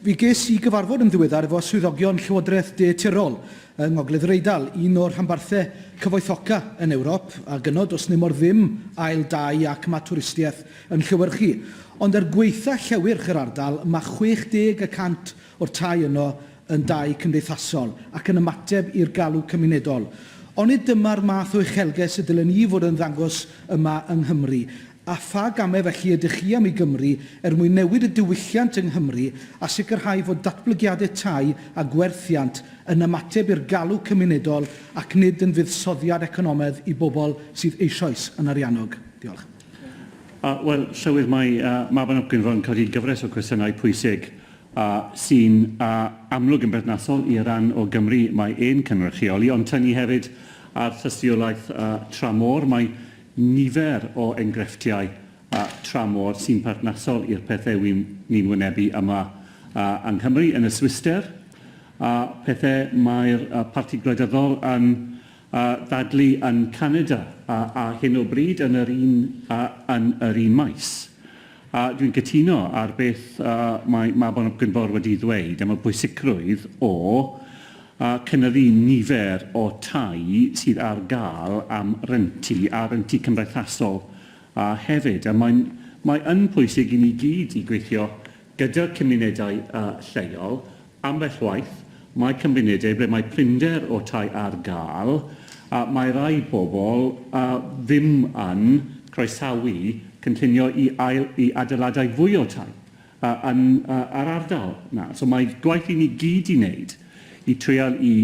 Fe ges i gyfarfod yn ddiweddar efo swyddogion Llywodraeth De Tyrol yng Ngogledd yr Eidal, un o'r rhanbarthau cyfoethoca yn Ewrop, a gyno does nemor ddim ail dai ac ma twristiaeth yn llewyrchu. Ond er gwaetha llewyrch yr ardal, ma 60 y cant o'r tai yno yn dai cymdeithasol ac yn ymateb i'r galw cymunedol. Onid dyma'r math o uchelges y dylen ni fod yn ddangos yma yng Nghymru? a pha gamau felly ydych chi am i Gymru er mwyn newid y diwylliant yng Nghymru a sicrhau fod datblygiadau tai a gwerthiant yn ymateb i'r galw cymunedol ac nid yn fuddsoddiad economaidd i bobl sydd eisoes yn ariannog? Diolch. Uh, Wel, Llywydd, mae uh, Mabinogion fel yn codi gyfres o cwestiynau pwysig uh, sy'n uh, amlwg yn berthnasol i ran o Gymru mae ein cynrychioli, ond tynnu hefyd ar thystiolaeth uh, tramor. Mae Nifer o engrefftiau a tramor sy'n perthnasol i'r pethau wy'n ni'n wynebu yma yng Nghymru, yn y Swisder, a pethau mae'r Parti Gwleidyddol yn ddadlu yn Canada ar hyn o bryd yn yr un yn yr un maes. A dwi'n cytuno ar beth mae Mabon ap Gwynfor wedi ddweud am y pwysicrwydd o a chynyddu nifer o tai sydd ar gael am rentu a rhentu cymdeithasol, a hefyd, a mae'n mae yn pwysig i ni gyd i gweithio gyda'r cymunedau lleol, ambell waith mae cymunedau ble mae prinder o tai ar gael a mae rhai pobl a ddim yn croesawu cynllunio i ail i adeiladau fwy o tai, yn yr ardal 'na. So mae gwaith i ni gyd i wneud i treial i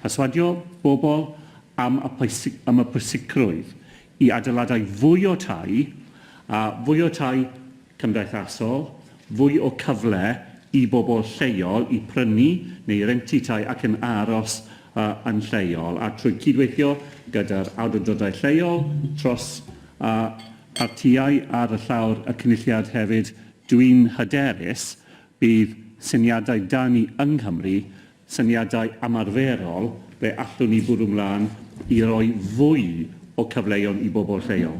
perswadio bobl am y pwysigrwydd i adeiladau fwy o tai, fwy o tai cymdeithasol, fwy o cyfle i bobl lleol i prynu neu rentu tai ac yn aros yn lleol, a trwy cydweithio gyda'r awdurdodau lleol tros Partïau ar y llawr y Cynulliad hefyd, dwi'n hyderus bydd syniadau 'da ni yng Nghymru', syniadau ymarferol ble allwn ni bwrw 'mlaen i roi fwy o cyfleon i bobl lleol.